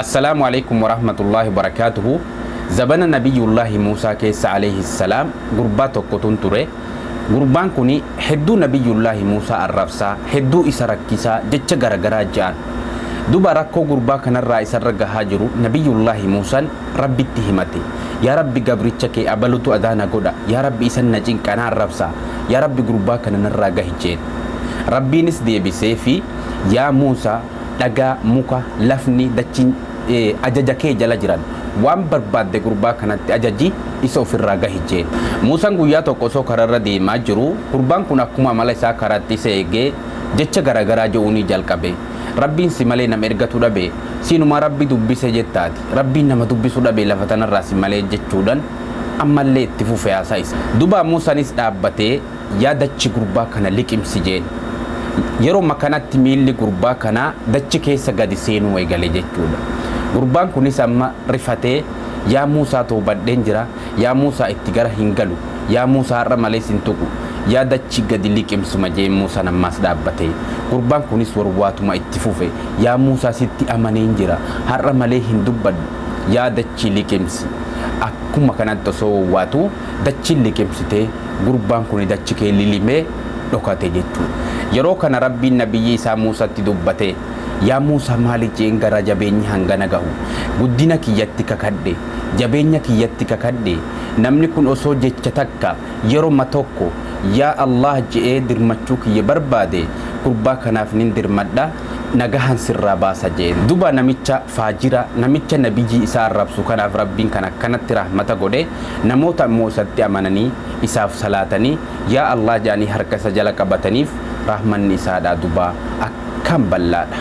Assalaamu Aleykum Warahmatullaahi Wabarakaatuhu Zabana Nabiyyullaahi Muusaa keessa Aleyhi Salaam gurbaa tokkotun ture. Gurbaan kuni hedduu Nabiyyullaahi Muusaa arrabsaa, hedduu isa rakkisaa, jecha garagaraa ja'an. Duba rakkoo gurbaa kanarraa isarra gahaa jiru Nabiyyullaahi Muusan Rabbitti himate. Yaa Rabbi gabricha kee abalutu adaa na godha, yaa Rabbi isan na cinqa, na arrabsa, yaa Rabbi gurbaa kana narraa gahi jeen. Rabbiinis deebiseefi, Yaa Muusa! Dhagaa, muka, lafni, dachiin ajaja kee jala jiran. Waan barbaadde gurbaa kanatti ajaji, isa ofirraa gahi jeen. Muusaan guyyaa tokko osoo karaarra deemaa jiruu, gurbaan kun akkuma amala isaa karaatti isa eegee jecha garaagaraa je'uunii jalqabe. Rabbiin si malee nama ergatu dhabe, siinumaa Rabbi dubbise jetta ati. Rabbiin nama dubbisu dhabe lafa tanarraa si malee jechuudhan ammallee itti fufe haasaa isaa. Duuba Muusaanis dhaabbatee Yaa dachi gurbaa kana liqimsi jeen. Yeroma kanatti miilli gurbaa kanaa dachi keessa gadi seenuu egale jechuudha. Gurbaan kunis amma rifatee Yaa Muusaa towbadheen jira, Yaa Muusaa itti gara hin galu, Yaa Muusa har'a malee sin tuqu, Yaa dachi gadi liqimsuma jeen Muusaan ammaas dhaabbatee. Gurbaan kunis warwaatuma itti fufe Yaa Muusaa sitti amaneen jira, har'a malee hin dubbadhu, Yaa dachi liqimsi. Akkuma kanatti osoo wawwaatuu. dachiin liqimsitee gurbaan kuni dachi kee lilimee dhokate jechuun yeroo kana rabbiin nabiyyii isaa muusatti dubbatee yaa muusa maali jeen garaa jabeenyi hangana gahu guddina kiyyatti kakadhe jabeenya kiyyatti kakadhe namni kun osoo jecha takka yeroma tokko yaa allaah je'ee dirmachuu kiyya barbaade gurbaa kanaaf nin dirmadha nagahan sirraa baasa jeen duba namicha faajira namicha nabiyyi isaa arrabsu kanaf rabbin kan akkanatti rahmata godhe namoota immoo isatti amanani isaaf salaatani yaa allah jaani harka isa jala qabatanif rahmanni isaadha duba akkam ballaadha.